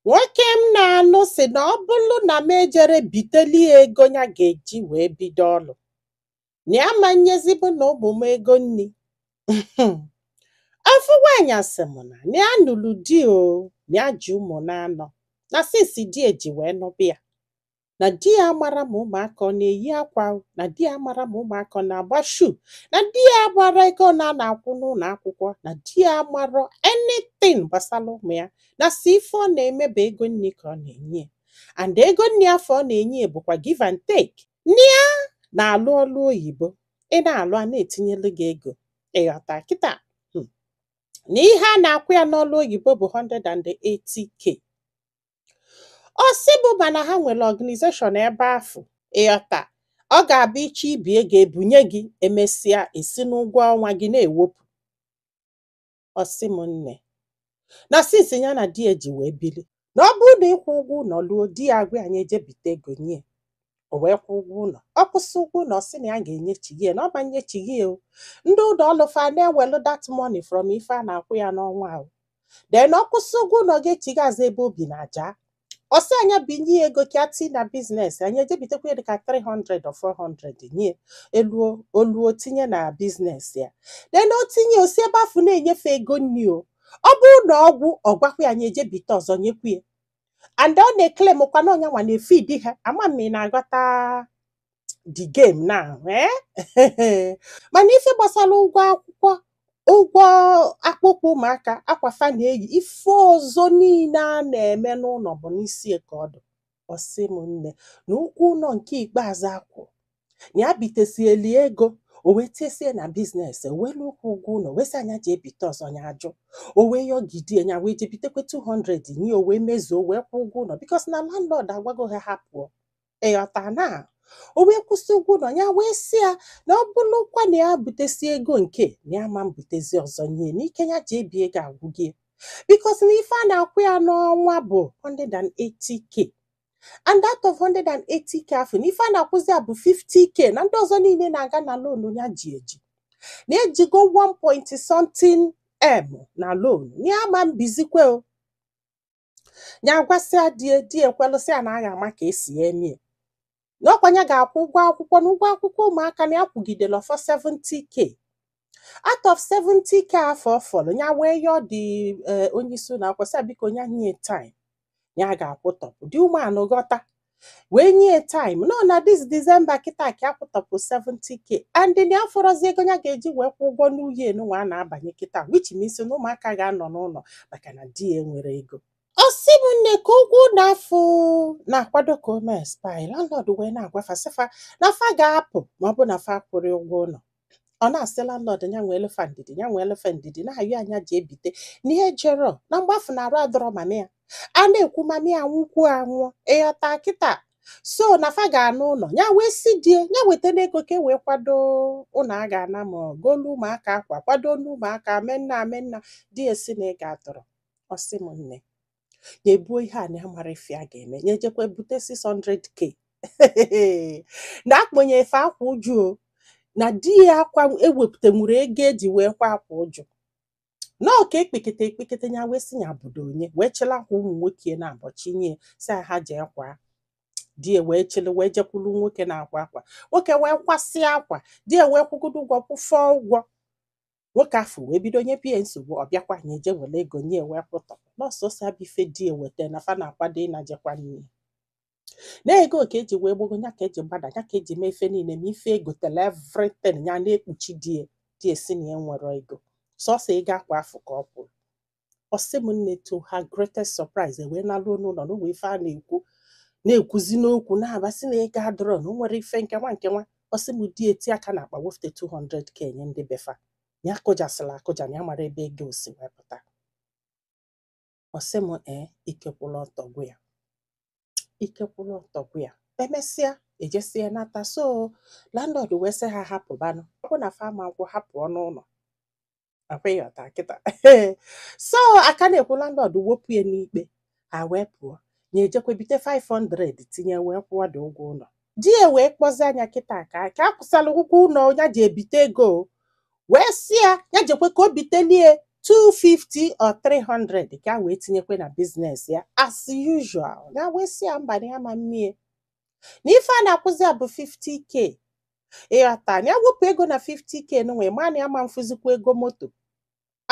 Nwoke m na-anụ sị na ọ bụlụ na m ejere biteli ya ego ya ga-eji wee bido ọlụ. Na ya ama nyezi mụ na ụmụ m ego nri. Ofu nwaanyị asị m na na ya nụrụ di o, na ya ji ụmụ naanọ, na since di ya ji wee nụba ya. na di ya amara ma ụmụaka ọ na-eyi akwa na di ya amara ma ụmụaka ọ na-agba shoe na di ya amara ego one a na-akwụ n'ụlọ akwụkwọ na di ya amara anything gbasara ụmụ ya na sọ ife ọ na-eme bụ ego nni ka ọ na-enye and ego nni afụ ọ na-enye bụkwa give and take na ya na-alụ ọlụ oyibo ị na-alụ a na-etinyelu gị ego ị ghọta kịta hmm. na ihe a na-akwụ ya n'ọlụ oyibo bụ 180k ọ sị m mana ha nwere organization ebe afụ ị ghọta ọ ga-abụ ị chọọ ibi ego e bunye gị e mesịa e si n'ụgwọ ọnwa gị na-ewepụ ọ sị m nne na since ya na di ya ji wee bili na ọ bụrụ na ịkwụ ụgwọ ụlọ luo di ya agwa ya nya eje bite ego nye o wee kwụọ ụgwọ ụlọ ọ kwụsịa ụgwọ ụlọ ọ sị na ya ga-enyechighi ya na ọ ma nyechighi ya o ndị ụlọ ọlụ fa na-ewelu that money from ife a na-akwụ ya n'ọnwa ahụ then ọ kwụsịa ụgwọ ụlọ ga-echighi azụ ebe o bi na Aja ọ sị ya nya binye ya ego ka ya tii na business nya eje bitekwa ya dịka 300 or 400 nye ya o luo tinye na business ya then o tinye o si ebe afụ na-enye fa ego nni o ọ bụrụ na ọ gwụ ọ gwakwa ya nya eje bite ọzọ nyekwa ya and ọ na-eclaimkwa na ọ nyanwa na-efeed ha ama m ma ị na-aghọta the game now eh? mana ife gbasara ụgwọ akwụkwọ ụgwọ akpụkpọ ụmụaka akwa fa na-eyi ife ọzọ niile a na-eme n'ụlọ bụ n'isi ya ka ọ dụ ọ sị m nne na ụgwọ ụlọ nke ikpeazụ a kwụ na ya bitesieli ya ego o wee tiesie na business o wee luo ịkwụ ụgwọ ụlọ wee sị ya nya jee bite ọzọ nya ajụ o wee yọgidie nya wee jee bitekwe 200 nye ya o wee mezuo o wee kwụọ ụgwọ ụlọ because na landlord agwago ha ha pụọ ị ghọta na o wee kwụsịa ụgwọ ụlọ nya wee sị ya na ọ bụrụkwa na ya butesịa ego nke a na ya ma mbutezi ọzọ nye ya na ike ya ji ebi ego agwụgie because na ife a na-akwụ ya n'ọnwa bụ 180k and out of 180k afụ na ife a na-akwụzi ya bụ 50k na ndị ọzọ niile na-aga na loan ya ji eji na ya ejigo 1 point something m na loan na ya ma mbizikwe o nya agwasịa di ya di ya ekwelụ sị ya na a ga-ama ka e si ya emie na ọ kwa nya ga-akwụ ụgwọ akwụkwọ na ụgwọ akwụkwọ ụmụaka na ya kwụgidela ọ fọ 70k out of 70k afụ ọ fọrọ ya wee yọọ the eh, onye isi ụlọ akwụkwọ sị ya biko ya nye time ya ga-akwụtọpụ the woman ghọta wee nye time n'ọ na this December kịta ka a kwụtọpụ 70k and na afụrọzi ego ya ga-eji wee kwụ ụgwọ new year nwa a na-abanye kịta which means na ụmụaka ga-anọ n'ụlọ maka na di ya enwerọ ego ọ sị m nne ka ụgwọ ụlọ afụ na-akwado ka o mee expire landlord wee na-agwa fa sị fa na fa ga-apụ ma ọ bụ na fa akwụrọ ụgwọ ụlọ ọ na-asị landlord ya nweelụ fa ndidi ya nweelụ fa ndidi na-ayọ nya jee bite n'ihe jero na mgbe afụ na arụ adịrọ mama ya a na-ekwu mama ya nwụkwuo anwụọ ị ghọta kịta so na fa ga-ana ụlọ ya wee sị di e ya wetanụ ego ka e wee kwado ụlọ a ga-ana ma ọ goolu ụmụaka akwa kwadoonụ ụmụaka menna amenna di e sị na ego adịrọ ọ sị m nne nya buo ihe a na amarọ ife a ga-eme nya jekwa bite 600k na a kpọnye efe akwa uju o, na di ya aka ewepụtanwurọ ego e ji wee kwa akwa uju na ọ ka ekpekete ekpekete ya wee sị ya bido nya wee chịlị akwa ụmụ nwoke ya naabọ chịnye sị ya jee kwaa di ya wee chịlị wee jekwuru nwoke na-akwa akwa nwoke wee kwasịa akwa di ya wee kwụgodu ụgwọ kwụfọ ụgwọ nwoke afụ wee bido nyebe nsogbu ọ bịakwa nya je were ego nya wee kwụtọpụ n'ọsọsọ abụ ife di e weta na fa na-akwado ịna je kwa nne e na ego ka e ji wee gbago ya ka e ji gbada ya ka e ji mee ife niile ma ife e gotelu everything ya na-ekpuchi di e di e sị na ya enwerọ ego sọsọ ego akwa afụ ka ọ kwụrụ ọ sị m nne to her greatest surprise e wee naruo n'ụlọ na ụwa ife a na-ekwu na-ekwuzi n'okwu na-aba sị na ego adịrọ na o nwerọ ife nke nwa nke nwa ọ sị m di e tie aka n'akpa wefute 200k nye ndị be fa ya akụjasịla akụja na ya amarọ ebe ego si wee pụta ọ sị m ee ike kwụlụ ọtọ gwụ ya ike kwụlụ ọtọ gwụ ya e mesịa e jesie nata so landlord wee sị ha ha pụbanụ ọ bụ na fa ama akwụ hapụ ọnụ ụlọ ọ kwa ị ghọta kịta so a ka na-ekwu landlord wepụ ya n'ikpe ha wee pụọ nya ejekwa bite 500 tinye wee kwụọ the ụgwọ ụlọ di ya wee kpọzie nya kịta ka ka a kwụsịlị ụgwọ ụlọ ya ji ebite ego wee sị ya ya jekwa ka o biteli e 250 or 300 ka o wee tinyekwa na business ya as usual ya wee sị ya mba na ya ama mme e na ife a na-akwụzi ya bụ 50k ị ghọta na ya wepụ ego na 50k nwa ma na ya ama mfụzikwa ego moto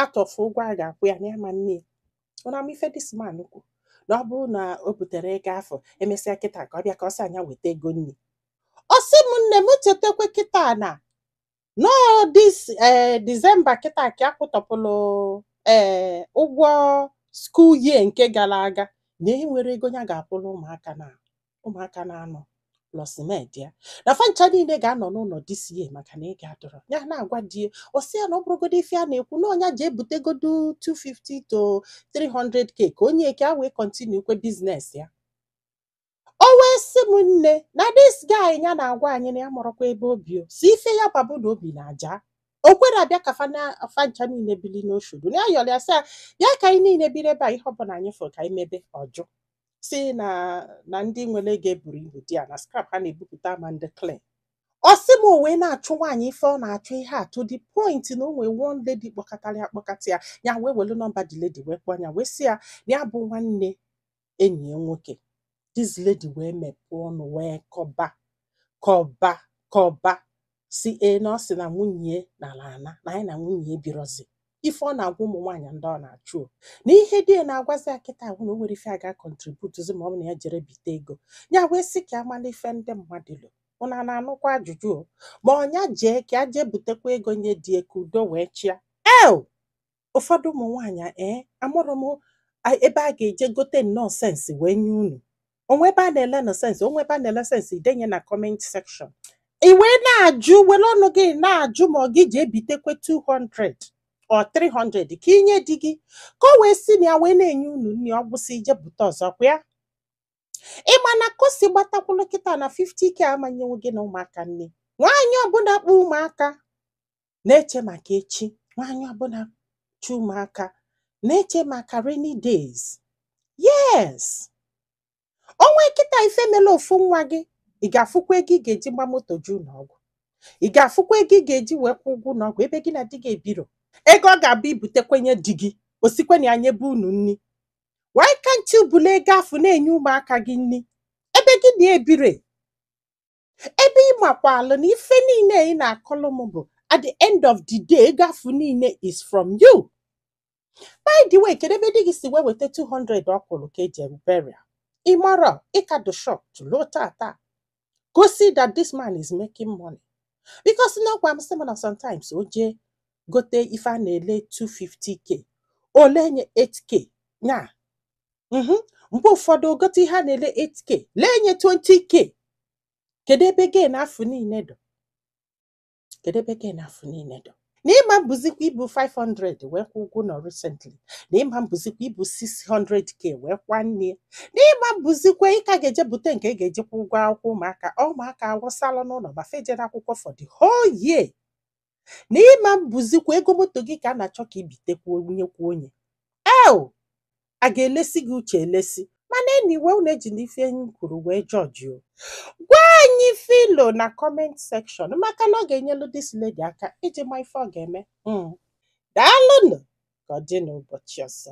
atọfụ ụgwọ a ga-akwụ ya na ya ama mme ya ụnụ ma ife this man kwu na ọ bụrụ na o biterọ ego afụ e mesịa kịta ka ọ bịa ka ọ sị nya weta ego nri ọ sị m nne m chetakwa kịta na ọ this eh, December kịta ka a kwụtọpụrụ eh, ụgwọ school year nke gara aga na enwerọ ego ya ga-akwụrụ ụmụaka na ụmụaka na-anọ plus maid ya na fancha niile ga-anọ n'ụlọ this year maka na ego adọrọ ya na-agwa di ya ọ sị ya na ọ bụrụgodo ife a na-ekwu na ọ nya jee butegodo 250 to 300k ka o nye ka ya wee continue kwa business ya o wee sị m nne na this guy ya na-agwa anyị na ya amarọkwa ebe o bi o si ife ya ma bụ na o bi na Ajah o kwere abịa ka fa na- fancha niile bili n'Oshodi na ya yọrọ ya sị ya bịa ka anyị niile biri ebe a ihe ọbụla anyị fụrụ ka anyị mebe ọ jụ si na na ndị nwere ego eburu ibu di ya na scrap ha na-ebupụta ma ndị clean ọ sị m o wee na-achụ nwaanyị ife ọ na-achụ ihe a to the point na o nwee one lady kpọkatara ya kpọkata ya ya wee welu nọmba the lady wee kpọọ ya wee sị ya na ya bụ nwanne enyi ya nwoke this lady wee mepee ọnụ wee kọba kọba kọba si ee na ọ sị na nwunye nala ana na nya na nwunye ebirozi ife ọ na-agwa ụmụ nwaanyị ndị ọ na-achụ o. na ihe di ya na-agwazi ya kịta ahụ na o nwere ife a ga-akọntributuzi ma ọ bụ na ya jere bite ego ya wee sị ka a mala ife ndị mmadụ lo unu ana-anụkwa ajụjụ o ma ọ nya jee ka ya jee butekwa ego nye di ya ka udo wee chịa el ụfọdụ ụmụ nwaanyị a, ee amarọ m a- ebe a ga-eje gote nnọọ sense wee nye unu o nwee ebe a na-ele nnọọ sense o nwee ebe a na-ele sense i denye na comment section i wee na-ajụ were ọnụ gị na-ajụ ma ọ gị jee bitekwe 200 or 300 ka i nye di gị ka o wee si na ya wee na-enye unu nri ọ gwụsị i jee bute ọzọ kwa ya ị ma na ka o si gbatakwụlụ kịta na 50k ama-enyenwu gị na ụmụaka nri nwaanyị ọbụla kpụ ụmụaka na-eche maka echi nwaanyị ọbụla chi ụmụaka na-eche maka rainy days yes o nwee kịta ife mele ofu nwa gị ị ga-afụkwa ego ị ga-eji gba moto jee ụlọ ọgwụ ị ga-afụkwa ego ị ga-eji wee kwụ ụgwọ ụlọ ọgwụ ebe gị na di gị ebiro ego ọ ga-abụ i butekwe nye di gị o sikwe na ya nyebe unu nri why can't you bulu ego afụ na-enye ụmụaka gị nri ebe gị na ya ebire ebe ị makwalụ na ife niile ị na-akọlụ m bụ at the end of the day ego afụ niile is from you by the way kedu ebe di gị si wee weta 200 ọ kwụrụ ka e ji eme burial ị mara ị ka dọ shop till tata gosi that this man is making money because na ọ gwa m sị m na sometimes o jee gote ife a na-ele 250k o lee nye 8k nya mhm. mgbe ụfọdụ o gote ihe a na-ele 8k lee nye 20k kedu ebe gain afụ niile dọ kedu ebe gain afụ niile dọ na ịma mbụzikwa ibu 500 wee kwụ ụgwọ ụnọ recently na ịma mbụzikwa ibu 600k wee kwa nne na ịma mbụzikwa ị ka ga-eje bute nke ị ga-eji kwụ ụgwọ akwụkwọ ụmụaka ụmụaka awụsala n'ụlọ ma fa ejere akwụkwọ for the whole year na ịma mbụzikwa ego moto gị ka a na-achọ ka i bitekwa nyekwa onye eh a ga-elesi gị uche elesi mana anyway unu ejina ife anyị kwuru wee judge o gwa anyị ife i lo na comment section maka na ọ ga-enyelu this lady aka iji ma ife ọ ga-eme Mm. daalụnụ ka ọ dị n'ụbọchị ọzọ